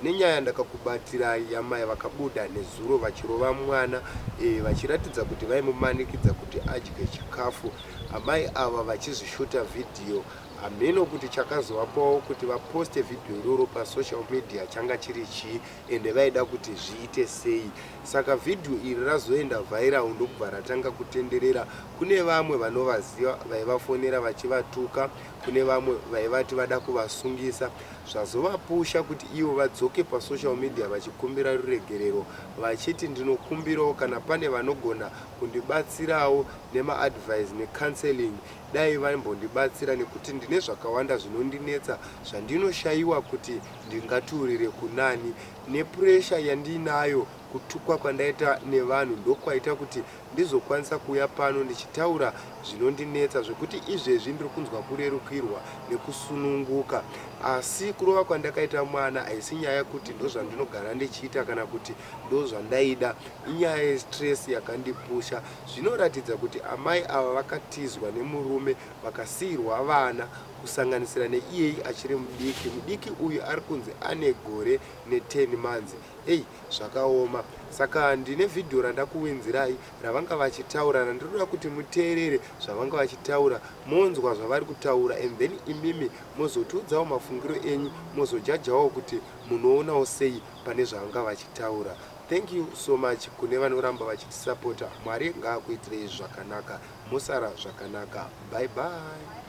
Ndine nyaya yandakakubatirai yamai vakabuda nezuro vachirova mwana eh, vachiratidza kuti vaimumanikidza kuti adye chikafu. Amai ava vachizvishuta vhidhiyo. Hameno kuti chakazovapawo kuti vaposte vhidhiyo iroro pasocial media changa chiri chii ende vaida kuti zviite sei. Saka vhidhiyo iri razoenda vhairawu ndokubva ratanga kutenderera. Kune vamwe vanovaziva vaivafonera vachivatuka, kune vamwe vaivati vada kuvasungisa. Zvazovapusha kuti ivo vadzoke pasocial media vachikumbira ruregerero vachiti ndinokumbirawo kana pane vanogona kundibatsirawo nemaadvise necounselling dai vaimbondibatsira nekuti ndine zvakawanda zvinondinetsa zvandinoshaiwa kuti ndingaturire kunani nepressure yandiinayo Kutukwa kwandaita nevanhu ndokwaita kuti ndizokwanisa kuuya pano ndichitaura zvinondinetsa zvekuti izvezvi ndiri kunzwa kurerukirwa nekusununguka. Asi kurova kwandakaita mwana haisi nyaya yekuti ndozvandinogara ndichiita kana kuti ndozvandaida, inyaya yestress yakandipusha. Zvinoratidza kuti amai ava vakatizwa nemurume vakasiirwa vana kusanganisira neiyeyi achiri mudiki. Mudiki uyu ari kunzi ane gore ne 10 manzi. Hey zvakaoma saka ndine video randakuwinzirai ravanga vachitaurana ndinoda kuti muteerere zvavanga vachitaura monzwa zvavari kutaura and then imimi mozotiudzawo mafungiro enyu mozojajawo kuti munoonawo sei pane zvavanga vachitaura thank you so much kune vanoramba vachitisapota mwari ngaakuitirei zvakanaka mosara zvakanaka bye bye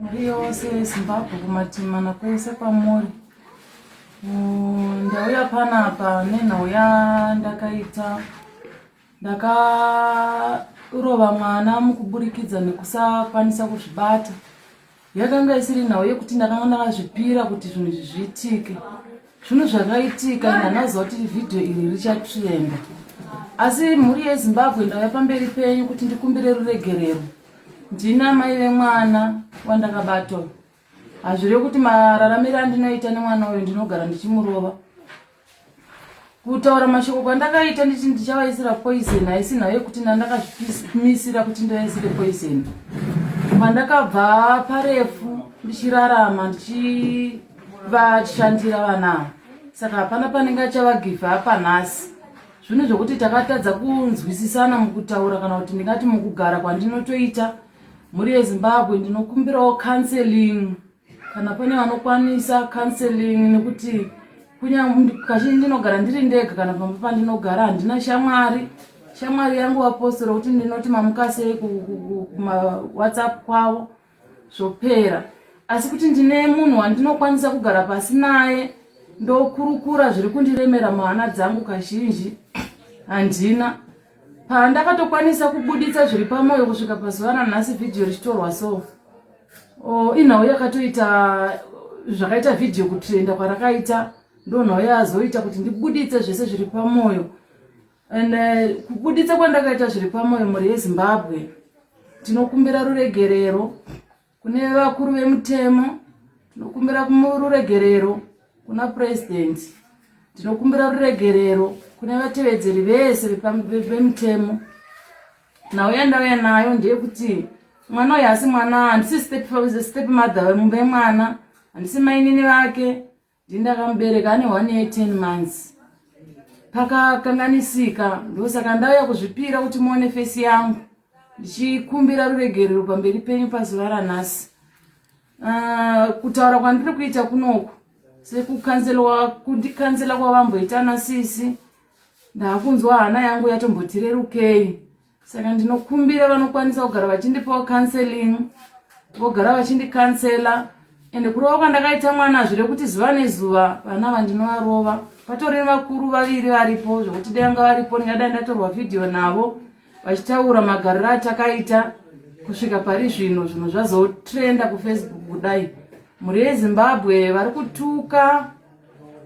Mhuri yose yeZimbabwe kumativi mana kwese kwamuri. Ndauya panapa nenhau yandakaita ndakarova mwana mukuburikidza nekusakwanisa kuzvibata. Yakanga isiri nhau yekuti ndakanga ndakazvipira kuti zvinhu izvi zviitike. Zvinhu zvakaitika and hanaziva kuti vhidhiyo iri richatrenda. Asi mhuri yeZimbabwe ndauya pamberi penyu kuti ndikumbire ruregerero. Ndini amai vemwana wandakabata uyu. Hazvireve kuti mararamiro andinoita nemwana uyu ndinogara ndichimurova. Kutaura mashoko kwandakaita nditi ndichavaisira poison haisi nhau yekuti ndandakazvimisira kuti ndivaisire poison. Pandakabva parefu ndichirarama ndichishandira vana ava saka hapana panenge achavagive apa nhasi zvinhu zvokuti takatadza kunzwisisana mukutaura kana kuti ndingati mukugara kwandinotoita mhuri yezimbabwe ndinokumbirawo counseling kana pane vanokwanisa counseling nekuti kazhinji ndinogara ndiri ndega kana pamba pandinogara handina shamwari shamwari yangu vapostora kuti ndinoti mamukasei kumawhatsapp kwavo zvopera asi kuti ndine munhu wandinokwanisa kugara pasi naye ndokurukura zviri kundiremera muhana dzangu kazhinji handina pandakatokwanisa kubuditsa zviri pamwoyo kusvika pazuva ranhasi vhidhiyo richitorwa so oh, inhau yakatoita zvakaita vhidhiyo kutrenda kwarakaita ndonhau yazoita kuti ndibuditse zvese zviri pamwoyo and uh, kubuditsa kwandakaita zviri pamwoyo mhuri yezimbabwe tinokumbira ruregerero kune vakuru vemutemo tinokumbira ruregerero kuna purezidenti tinokumbira ruregerero kune vatevedzeri vese vemutemo nhau yandauya nayo ndeyekuti mwana uyu asi mwana handisi step mother vemumba yemwana handisi mainini vake ndindakamubereka ane one year ten months pakakanganisika ndosaka ndauya kuzvipira kuti muone fesi yangu ndichikumbira ruregerero pamberi penyu pazuva ranhasi ah, kutaura kwandiri kuita kunoku sekukanzelwa kundikanzela kwavamboita nasisi ndakunzwa hana yangu yatombotirerukei saka ndinokumbira vanokwanisa kugara vachindipawo counseling vogara vachindicancela ende kurova kwandakaita mwana zvire kuti zuva nezuva vana vandinovarova patori nevakuru vaviri varipo zvekuti danga varipo ndingadai ndatorwa vhidhiyo navo vachitaura magariro atakaita kusvika pari zvino zvinhu zvazotrenda kufacebook kudai mhuri yezimbabwe vari kutuka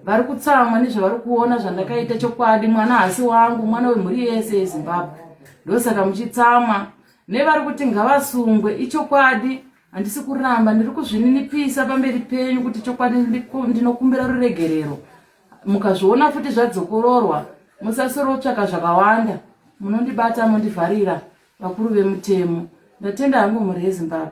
vari kutsamwa nezvavari kuona zvandakaita chokwadi mwana hasi wangu mwana wemhuri yese yezimbabwe ndosaka muchitsamwa nevari kuti ngavasungwe ichokwadi handisi kuramba ndiri kuzvininipisa pamberi penyu kuti chokwadi ndinokumbira ruregerero mukazviona futi zvadzokororwa musasorotsvaka zvakawanda munondibata mondivharira vakuru vemutemo ndatenda hangu mhuri yezimbabwe